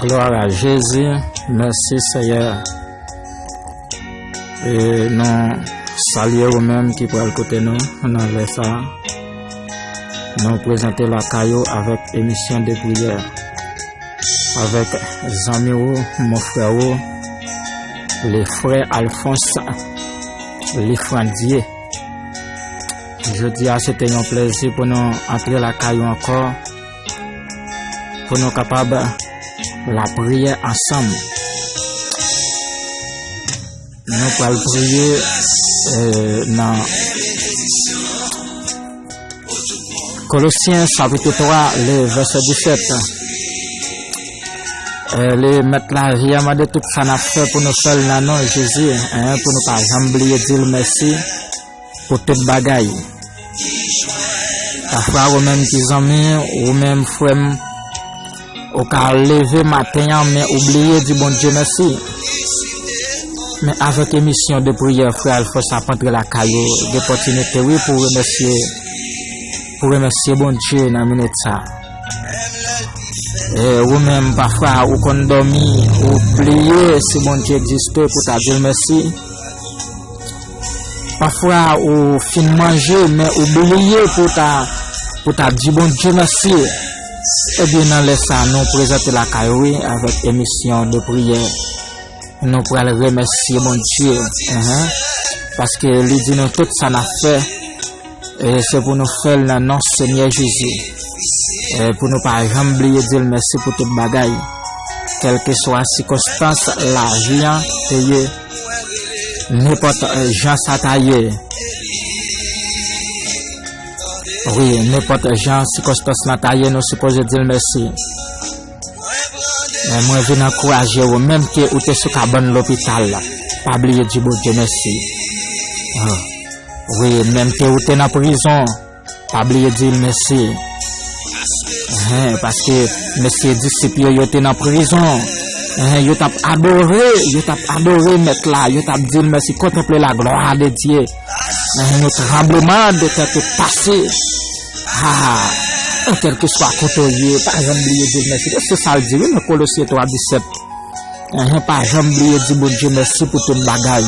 Gloire a Jezi, mèsi Seyè. E nou salye ou menm ki pral kote nou nan lè sa. Nou prezante la kayo avèk emisyon de priyè. Avèk zanmi ou, mon frè ou, le frè Alphonse Lifrandie. Jodi a se te yon plezi pou nou antre lakay ou ankò pou nou kapab lapriyè ansanm. Nou pral priye euh, nan Colossiens chapitre 3, le verset 17. Euh, le met la vie a mande tout sa na fè pou nou fèl nan non Jezi, hein, pou nou pa janm bliye dil mèsi. Pou tout bagay. Pafwa ou menm ti zanmi, ou menm frè m, ou ka leve maten an men ou bliye di Bondye mèsi. Men avèk emisyon de priyè frè Alphonse ap antre lakay ou, gen opòtinite wi pou remèsye, pou remèsye Bondye nan minit sa. E ou menm pafwa ou konn dòmi, ou bliye si Bondye egziste pou ta di l mèsi. Pafwa ou fin manje men ou bliye pou ou ta di Bondye mèsi. Ebyen nan lè sa nou prezante lakay ou wi avèk emisyon de priyè. Nou pral remèsye Bondye paske li di nou tout sa nap fè. E se pou nou fèl nan non Senyè Jezi. E pou nou pa janm bliye dil mèsi pou tout bagay. Kèlkeswa sikonstans lavi an te ye, nenpòt jan sa ta ye. Wi, nenpòt jan sikonstans lan ta ye nou sipoze dil mèsi. E mwen vin ankouraje ou menm ke ou te sou kabann lopital la, pa bliye di Bondye mèsi. Wi menm ke ou te nan prizon pa bliye di l mesi paske mesye disip yo yo te nan prizon yo tap adore yo tap adore met la yo tap di l mesi kontanple la glwa de Dye yon tranbleman de tè te pase aa kelke swa kote ou ye pa janm bliye di l mesi e se sal di wi nan kolosye 3 17 pa janm bliye di Bondye mesi pou tout bagay.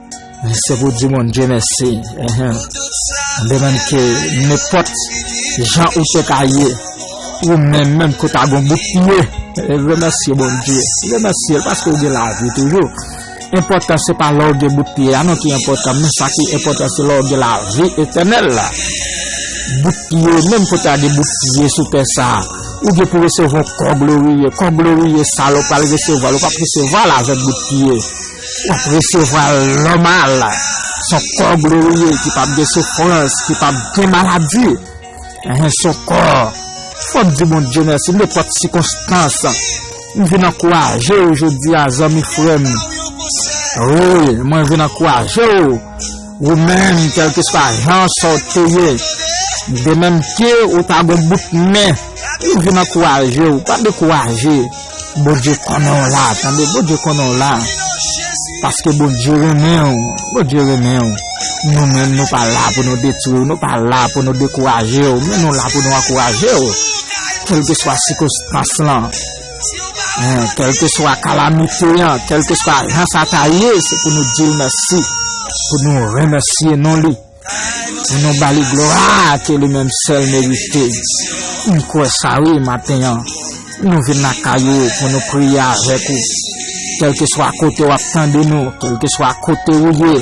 Se pou di moun Dye mèsi. De menm ke nenpòt jan ou te ka ye, ou menm menm ke w ta gen yon bout pye, remèsye Bondye. Remèsye l paske ou gen lavi toujou. Enpòtan se pa lè w gen bout pye a non ki enpòtan, men sa ki enpòtan se lè w gen lavi etènèl la. Bout pye, menm ke w ta gen bout pye sou tè sa a, ou gen pou resevwa yon kò gloriye. Kò gloriye sa a lè w pral resevwa l, ou pap resevwa l avèk bout pye. W ap resevwa l nòmal. S on kò gloriye ki p ap gen soufrans, ki p ap gen maladi. S on kò w ap di Bondye mèsi nenpòt sikonstans. M vin ankouraje w jodi a zanmi frè m. Wi, mwen vin ankouraje w. Ou menm kelkeswa jan sa w te ye de menm ke ou ta gon bout men ou vin ankouraje w pa dekouraje Bondye konnen w la tande Bondye konnen w la paske Bondye renmen w Bondye renmen w nou menm nou pa la pou nou detwi w nou pa la pou nou dekouraje w men nou la pou nou ankouraje w kelkeswa sikonstans lan. Kèlkeswa kalamite an, kèlkeswa jan sa ta ye, se pou nou di l mèsi, pou nou remèsye non li, pou nou ba li glwa ke li menm sèl merite. M kwè sa wi maten an, nou vin lakay ou pou nou priye avèk ou. Kèlkeswa kote w ap tande nou, kèlkeswa kote ou ye.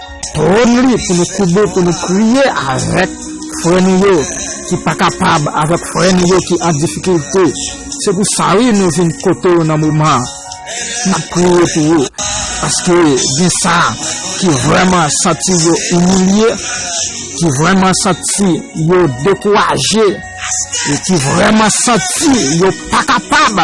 Pran li pou nou koube pou nou priye avèk frè nou yo ki pa kapab, avèk frè nou yo ki an difikilte. Se pou sa wi nou vin kote w nan moman an. N ap priye pou ou. Paske gen sa ki vrèman santi yo imilye, ki vrèman santi yo dekouraje, ki vrèman santi yo pa kapab.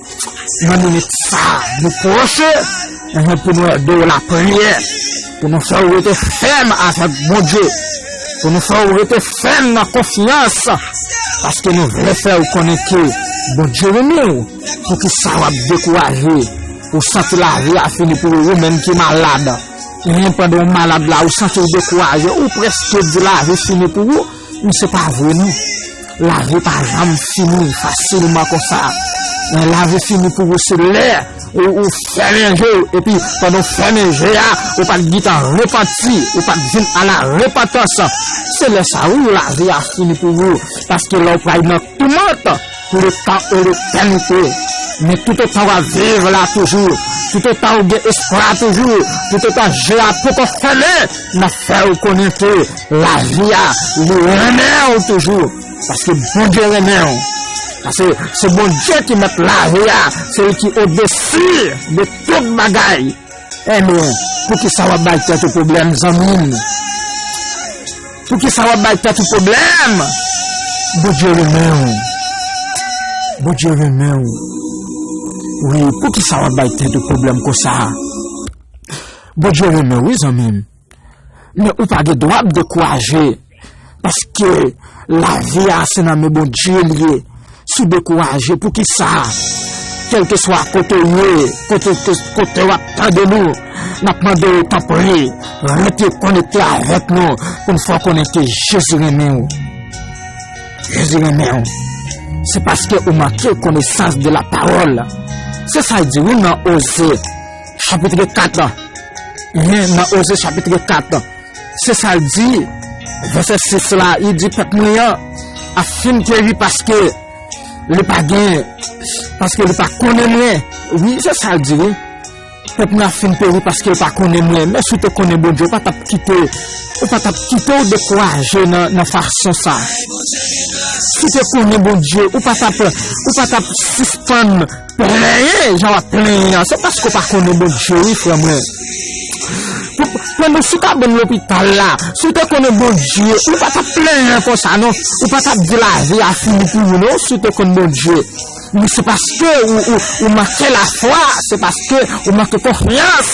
nan minit sa nou pwoche pou nou ede w lapriyè, pou nou fè w rete fèm avèk Bondye, pou nou fè w rete fèm nan konfyans, paske nou vle fè w konnen ke Bondye renmen w, poukisa w ap dekouraje, ou santi lavi a fini pou ou, ou menm ki malad, pandan w malad la ou santi w dekouraje, ou prèske di lavi fini pou ou. Ou se pa vre non. Lavi pa janm fini fasilman konsa. Lè lavi fini pou ou se lè ou fèmen je ou epi pandan ou fèmen je a ou pa t gintan repanti, ou pa t vin a la repantans. Se lè sa wi lavi a fini pou ou paske lè ou pral nan. Tou mont pou le tan ou le tènite Men tout otan w ap viv la toujou Tout otan ou gen espwa toujou Tout otan je a poko fèmen M ap fè ou konnen ke lavi a li renmen ou toujou Paske Bondye renmen ou Paske se Bondye ki mèt lavi a Se li ki odesi de tout bagay Hello poukisa wap bay tèt ou problème zanmim poukisa wap bay tèt ou problème Bondye renmenw Bondye renmenw wi poukisa wap bay tèt ou problème konsa Bondye renmenw wi zanmim. Men ou pa gen dwa ap dekouraje paske lavi a se nan men Bondye li ye. Si w dekouraje poukisa kèlkeswa kote w ye, kote w ap tande nou, n ap mande w tanpri rete konekte avèk nou pou n fè w konnen ke Jezi renmen w. Jezi renmen w. Se paske ou manke konesans de lapawòl. Se sa l di wi nan Oze. Chapitre 4 la, men nan Oze chapitre 4 la, se sa l di, vese 6 la, li di pèp mwen an ap fin peri paske li pa gen, paske li pa konnen mwen, wi, se sa l di, pèp mwen ap fin peri paske li pa konnen mwen, men si w te konnen Bondye, ou pa t ap kite, ou pa t ap kite w dekouraje nan fason sa. Si w te konnen Bondye, ou pa t ap, ou pa t ap sispann. Plenyen jan wap plenyen an se paske w pa konnen Bondye wi frè mwen. Pandan sou kabann lopital la, si w te konnen Bondye, ou pa tap plenyen konsa non. Ou pa tap di lavi a fini pou ou non si w te konn Bondye. Men se paske ou manke lafwa, se paske ou manke konfyans.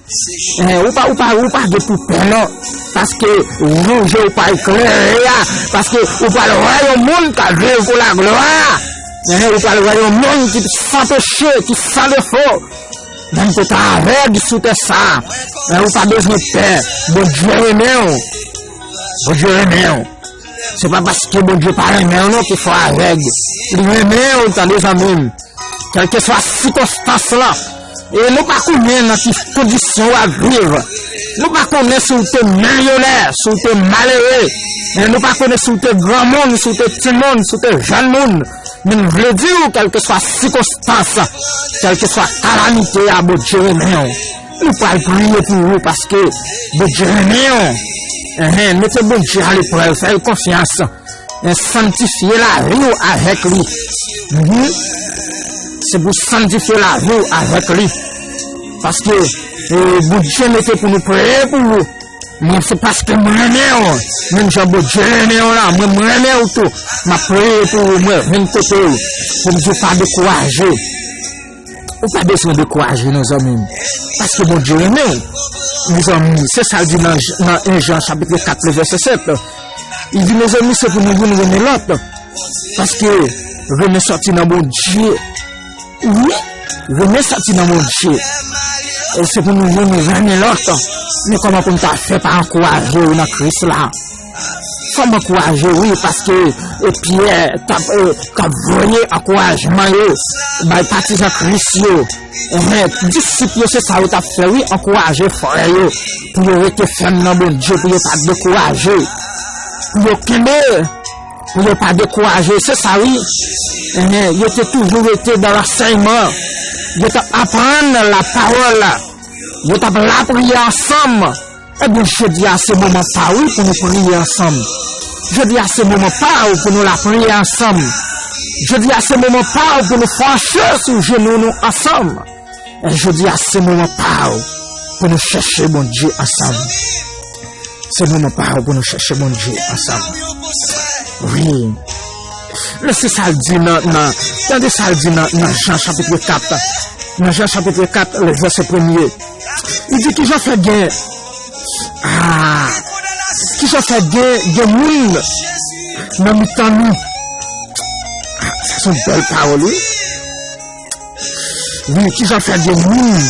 Eeh ou pa ou pa ou pa gen pou pè non paske jou je ou pa eklere a paske ou pral wè yon moun kap viv pou la glwa eeh ou pral wè yon moun ki san peche ki san defo menm ke w ta avèg sou tè sa eeh ou pa bezwen pè Bondye renmen w Bondye renmen w. Se pa paske Bondye pa renmen w non ki fè w avèg. Li renmen w tande zanmi m. Kèlkeswa sikonstans lan. E nou pa konnen nan ki kondisyon w ap viv. Nou pa konnen si w te milyonè, si w te malere. E nou pa konnen si w te granmoun, si w te timoun, si w te jèn moun. Men m vle di w kèlkeswa sikonstans, kèlkeswa kalamite a Bondye renmen w. Nou pral priye pou ou paske Bondye renmen ou. Enhen, mete Bondye a leprèv, fè l konfyans. E sanntifye lavi ou avèk li. Enhen, se pou sanntifye lavi ou avèk li. Paske Bondye mete pou nou priye pou ou. Mwen se paske mwen renmen ou. Menm jan Bondye renmen ou la, mwen mwen renmen ou tou. Mwen priye pou ou, mwen vin kote ou. Pou Bondye pa dekouraje ou. Ou pa bezwen dekouraje non zanmim, paske Bondye renmen ou. Mezanmi, se sa l di nan 1 Jan chapitre 4 le vèsè 7, li di mezanmi se pou nou youn renmen lòt, paske renmen sòti nan Bondye, wi, renmen sòti nan Bondye, se pou nou youn renmen lòt, men kòman pou m ta fè pa ankouraje ou nan Kris la? Fòm ankouraje wi paske Pyè tap voye ankourajman yo bay patizan Kris yo enhen disip yo se sa yo tap fè wi ankouraje frè yo pou yo rete fèm nan Bondye pou yo pa dekouraje pou yo kenbe pou yo pa dekouraje se sa wi enhen yo te toujou rete nan lansèyman yo tap aprann lapawòl yo tap lapriyè ansanm. Ebyen jodi a se moman sa wi pou nou priye ansanm jodi a se moman pa ou pou nou lapriye ansanm jodi a se moman pa ou pou nou panche sou jenou nou ansanm jodi a se moman pa ou pou nou chèche Bondye ansanm se moman pa ou pou nou chèche Bondye ansanm wi men se sa l di nan nan tande sa l di nan nan jan chapitre 4 nan jan chapitre 4 le vèse premye Ou di kijan fè gen Kijan fè gen moun nan mitan nou Sa son bèl pawòl wi Wi kijan fè gen moun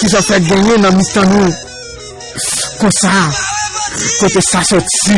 Kijan fè gen moun nan mitan nou Konsa Kote sa soti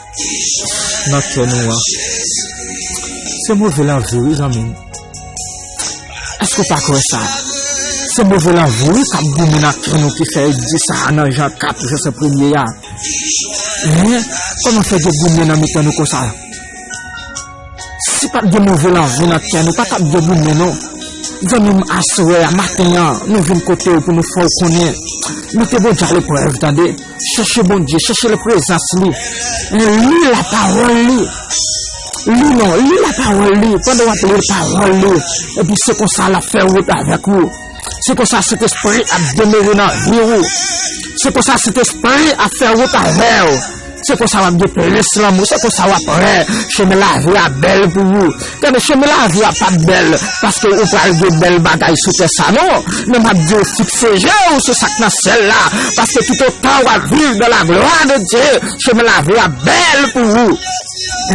nan kè nou an. Se move lanvi wi zanmim. Eske w pa kwè sa? Se move lanvi wi kap goumen nan kè nou ki fè yo di sa nan Jan 4 vèsè premye a. Men, kòman fè gen goumen nan mitan nou konsa? Si pat gen move lanvi nan kè nou pa tap gen goumen non zanmi m aswè a maten an nou vin kote w pou nou fè w konnen mete Bondye a leprèv tande chèche Bondye chèche leprezans li li lapawòl li li non li lapawòl li pandan w ap li l pawòl li epi se konsa lap fè wout avèk ou. Se konsa Sentespri ap demere nan vi ou. Se konsa Sentespri ap fè wout avè ou. Se konsa wap gen plis lanmou. Se konsa wap wè chemen lavi a bèl pou ou. Gade, chemen lavi a pap bèl paske ou pral gen bèl bagay sou tè sa non. Men map di ou fikse je ou sou sak nan syèl la. Paske toutotan wap viv dan laglwa de Dye, chemen lavi a bèl pou ou.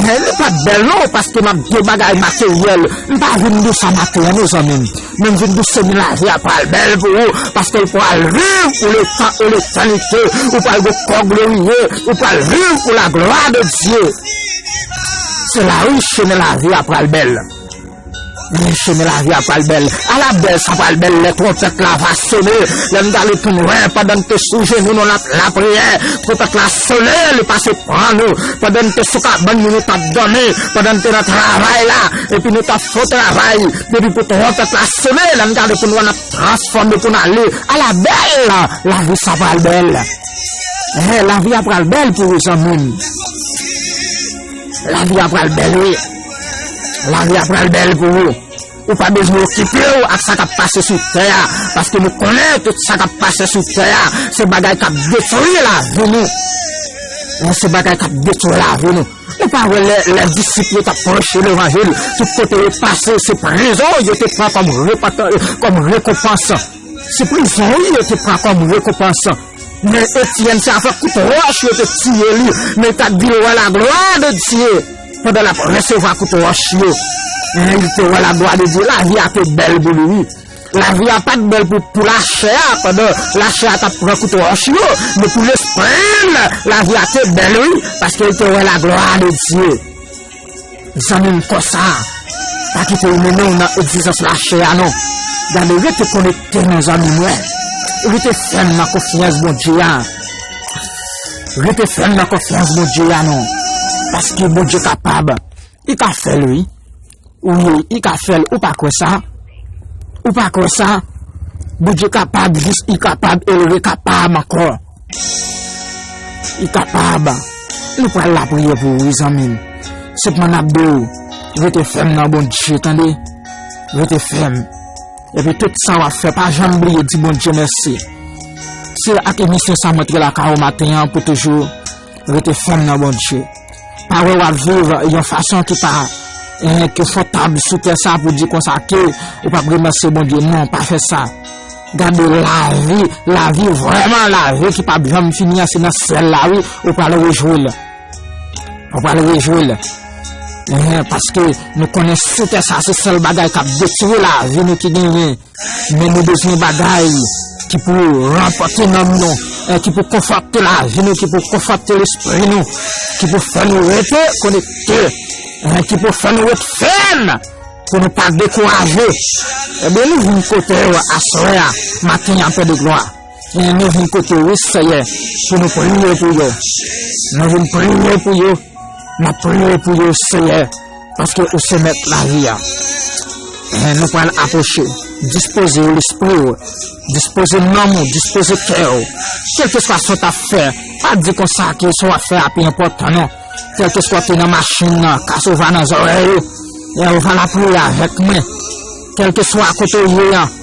Li pap bèl non paske map di ou bagay materyèl. Mpa vin di ou sa maten an non zanmim. Men vin douse men lavi a pral bèl pou ou paske ou pral viv pou letan e letanite ou pral gen kò gloriye ou pral viv pou laglwa de Dye se la wi chemen lavi a pral bèl men chemen lavi a pral bèl ala bèl sa pral bèl lè tronpèt la va sone lè n prale tou wè pandan n te sou jenou nou nan lapriyè tronpèt la sone li pase pran nou pandan n te sou kabann nou nou t ap dòmi pandan n te nan travay la epi nou t ap fon travay Depi pou twonpèt la sone lè n gade pou n wè n ap transfòme pou n ale a la bèl lavi sa pral bèl eh lavi a pral bèl pou ou zanmi m lavi a pral bèl wi lavi a pral bèl pou ou ou pa bezwen okipe w ak sa k ap pase sou tè a paske nou konnen tout sa k ap pase sou tè a se bagay k ap detwi lavi nou se bagay k ap detwi lavi nou Ou pa wè lè lè disip yo tap preche levanjil tout kote yo pase se prizon yo te pran kòm repantan kòm rekonpans se prizon wi yo te pran kòm rekonpans men Etienne se avèk kout wòch yo te tiye li men li tap dil wè laglwa de Dye pandan lap resevwa kout wòch yo men li te wè laglwa de Dye lavi a te bèl pou li wi. Lavi a pa t bèl pou lachè a pandan lachè a t ap pran kout wòch yo, men pou lespri l, lavi a te bèl wi, paske l te wè laglwa de Dye. Zanmi m, konsa, pa kite yo mennen w nan egzijans lachè a non. Gade, rete konekte non, zanmi mwen. Rete fèm nan konfyans Bondye a. Rete fèm nan konfyans Bondye a non, paske Bondye kapab. I ka fèl wi. Wi i ka fèl ou pa kwè sa? Ou pa kwè sa? Bondye kapab jis i kapab el re kapab ankò. I kapab. Nou pral lapriyè pou ou wi zanmim. Sepman nap di ou rete fèm nan Bondye tande. Rete fèm. Epi tout sa wap fè pa janm bliye di Bondye mèsi. Se ak emisyon sa m antre lakay ou maten an pou toujou. Rete fèm nan Bondye. Pa wè wap viv yon fason ki pa konfòtab sou tè sa pou di konsa ke ou pap remèsye Bondye. Non, pa fè sa. Gade lavi, lavi vrèman lavi ki pap janm fini an se nan syèl la wi ou pral rejwi l. Ou pral rejwi l. Paske nou konnen sou tè sa se sèl bagay kap detwi lavi nou ki genyen. Men nou bezwen bagay ki pou ranfòse nanm nou, ki pou konfòte lavi nou, ki pou konfòte lespri nou, ki pou fè nou rete konekte, ki pou fè nou ret fèm pou nou pa dekouraje. Ebyen nou vin kote w aswè a, maten an, Pè de Glwa. Pye nou vin kote ou seyè pou nou priye pou yo nou vin priye pou yo nap priye pou yo seyè paske ou se mèt lavi a eh nou pral apwoche dispoze ou lespri ou dispoze nanm ou dispoze kè ou kelkeswa sa w tap fè pa di konsa ke sa wap fè a pi enpòtan non kelkeswa ou te nan machin nan kas ou va nan zòrèy ou eh ou va lapriyè avèk mwen kelkeswa kote ou ye an.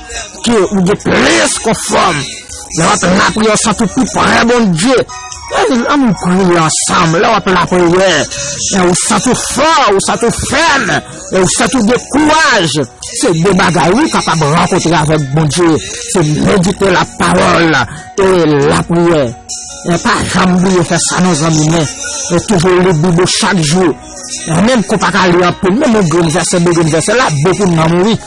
Ke ou gen plis konfòm. Lè w ap lapriyè, santi w pi pre Bondye. Annou priye ansanm. Lè w ap lapriyè, ou santi w fò, ou santi w fèm, ou santi w gen kouraj. Se de bagay ou kapab rankontre avèk Bondye. Se medite lapawòl e lapriyè. Pa janm bliye fè sa non zanmi mwen. Toujou li Bib ou chak jou. Menm ke w pa ka li anpil, menm yon grenn vèsè, de grenn vèsè la bon pou nanm ou wi.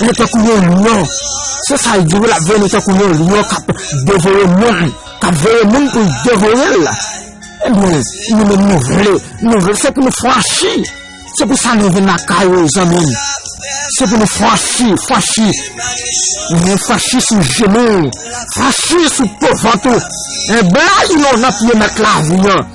Yo tankou yon lyon, se sa l di wi l ap vini tankou yon lyon k ap devore moun, k ap veye moun pou l devore l. Ebyen, nou menm nou vle, nou vle se pou nou franchi, se pou sa nou vin lakay ou zanmi m, se pou nou franchi, franchi, men franchi sou jenou w, franchi sou po vant ou, blayi w nan pye mèt lavi an.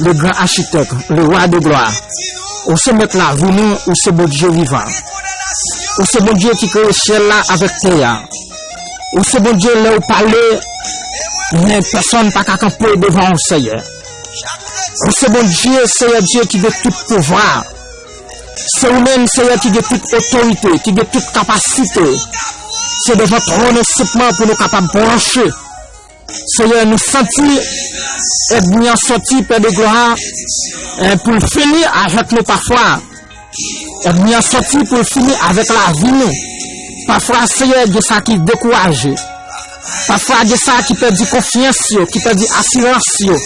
Le gran achitèk, le wa de glwa, ou se mèt lavi nou, ou se Bondye vivan. Ou se Bondye ki kreye syèl la avèk tè a. Ou se Bondye lè ou pale, men pèsòn pa ka kanpe devan ou Seyè. Ou se Bondye, Seyè Dye ki gen tout pouvwa. Se ou menm Seyè ki gen tout otorite, ki gen tout kapasite. Se devan twòn ou senpman pou nou kapab pwoche. Seyè nou santi èdmi an sòti pè de glwa a pou l fini avèk nou pafwa èdmi an sòti pou l fini avèk lavi nou pafwa seyè gen sa ki dekouraje pafwa gen sa ki pèdi konfyans yo ki pèdi asirans yo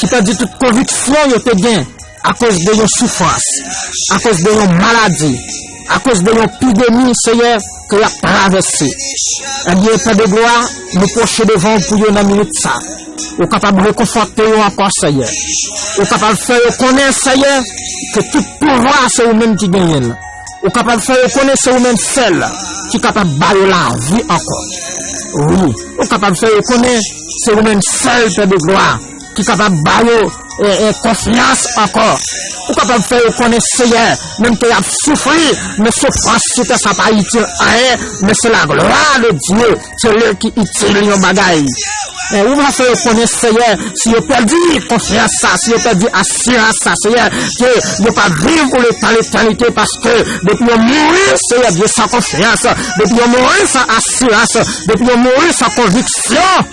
ki pèdi tout konviksyon yo te gen Akoz de yon soufrans, akoz de yon maladi, akoz de yon pidemi, Seyè, ke y ap travèse. Ebyen, Pè de glwa, nou pwoche devan w pou yo nan minit sa. Ou kapab rekonfòte yo ankò, Seyè. Ou kapab fè yo konnen, Seyè, ke tout pouvwa a se ou menm ki genyen l. Ou kapab fè yo konnen se ou menm sèl ki kapab ba yo lavi ankò. Wi, ou kapab fè yo konnen se ou menm sèl, Pè de glwa, ki kapab ba yo konfyans ankò, ou kapab fè yo konnen Seyè menm ke y'ap soufri, men soufrans sou tè sa pa itil anyen, men se laglwa de Dye sèl ki itil yon bagay. Ou va fè yo konnen Seyè si yo pèdi konfyans sa, si yo pèdi asirans sa Seyè, ke yo p'ap viv pou leta letènite, paske depi yo mouri Seyè Dye san konfyans, depi yo mouri san asirans, depi yo mouri san konviksyon,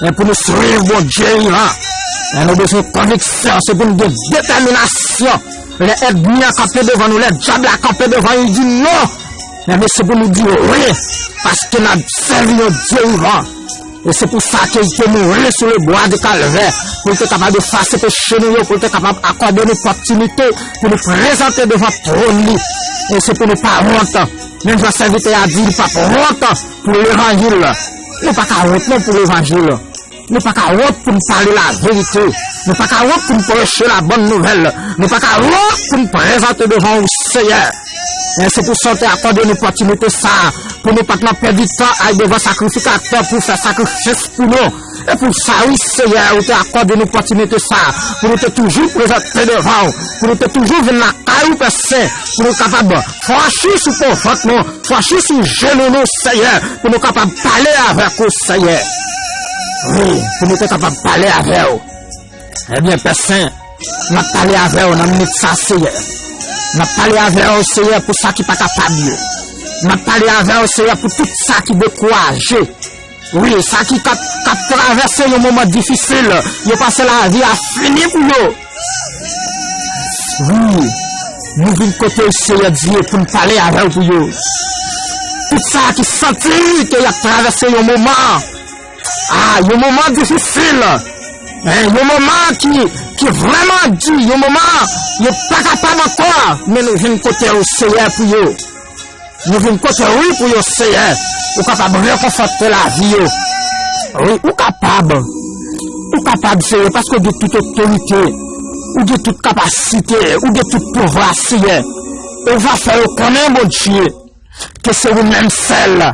Men pou nou swiv Bondye wi a, men nou bezwen konviksyon, se pou nou gen detèminasyon. Lè èdmi an kanpe devan nou, lè dyab la kanpe devan nou, li di non, men nou se pou nou di wi, paske n ap sèvi yon Dye vivan. E se pou sa ke li te mouri sou lebwa de Kalvè, pou li te kapab efase peche nou yo, pou li te kapab akòde nou pòptinite pou nou prezante devan twòn li. E se pou nou pa wont, menm jan sèvitè a di li pa p wont pou levanjil. Nou pa ka wont non pou levanjil. Nou pa ka wont pou n pale laverite. Nou pa ka wont pou n preche labòn nouvèl. Nou pa ka wont pou n prezante devan ou, Seyè. Men se pou sa w te akòde n opòtinite sa a, pou nou pa t nan pèdi tan al devan sakrifikatè pou fè sakrifis pou nou. E pou sa, wi, Seyè, ou te akòde n opòtinite sa a, pou nou te toujou prezante devan ou, pou nou te toujou vin lakay ou, Pè Sen, pou nou kapab franchi sou po vant nou, Fache sou jenou nou Seyè pou nou kapab pale avèk ou Seyè Wi pou nou te kapab pale avè ou Ebyen eh Pè Sen Nap pale avè ou nan minit sa Seyè Nap pale avè ou Seyè pou sa ki pa kapab yo Nap pale avè ou Seyè pou tout sa ki dekouraje Wi, sa ki kap kap travèse yon moman difisil, yo panse lavi a fini pou yo. Wi, nou vin kote w Seyè Dye pou n pale avè w pou yo. Tout sa ki santi ke y ap travèse yon moman, a, yon moman difisil, yon moman ki ki vrèman di, yon moman yo pa kapab ankò, men nou vin kote w Seyè pou yo. Nou vin kote w wi pou yo Seyè ou kapab rekonfòte lavi yo wi ou kapab ou kapab Seyè paske ou gen tout otorite ou gen tout kapasite ou gen tout pouvwa Seyè ou va fè yo konnen Bondye ke se ou menm sèl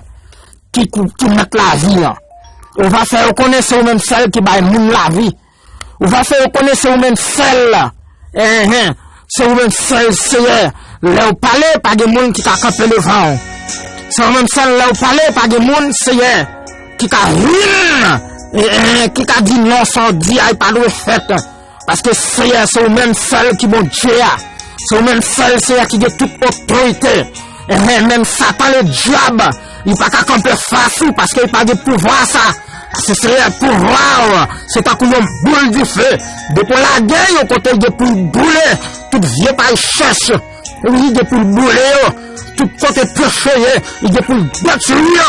ki mèt lavi an ou va fè yo konnen se ou menm sèl ki bay moun lavi. Ou va fè yo konnen se ou menm sèl la. Enhen, se ou menm sèl Seyè. Lè ou pale, pa gen moun ki ka kanpe devan ou. Se ou menm sèl lè ou pale, pa gen moun, Seyè, ki ka humm, enhen, ki ka di non sa ou di a li pa dwe fèt. Paske Seyè, se ou menm sèl ki Bondye a. Se ou menm sèl Seyè ki gen tout otorite. Enhen menm satan le dyab li pa ka kanpe fas ou paske li pa gen pouvwa sa se seyè pouvwa ou se tankou yon boul dife depi ou lage yo kote li gen poul boule tout vye pay chèch ou li gen poul boule yo tout kote peche ye li gen poul detwi yo.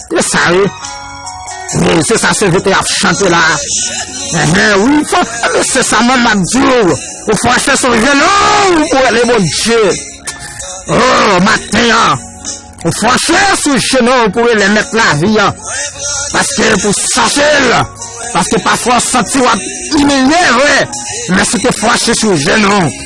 E sa e? Wi, se sa CVT ap chante la. Enhen, wi, fò, ebe, se sa manm ap di ou. Ou fò achte son jèn, oh, ou pou ele bon Dje. Oh, maten an. Ou fò achte son jèn, oh, ou pou ele met la vi an. Paske pou sache l. Paske pa fò santi wap imilye, vre. Mè si te fò achte son jèn, oh.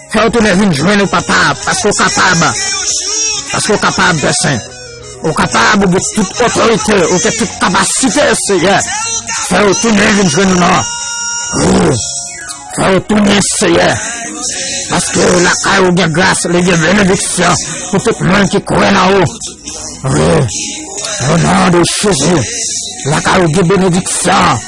Fè ou tounen vin jwenn ou papa paske ou kapab paske ou kapab Pè Sen ou kapab ou gen tout otorite ou gen tout kapasite Seyè fè ou tounen vin jwenn ou non Woo fè ou tounen Seyè paske lakay ou gen gras li gen benediksyon pou tout moun ki kwè nan ou Woo o non de Jezi lakay ou gen benediksyon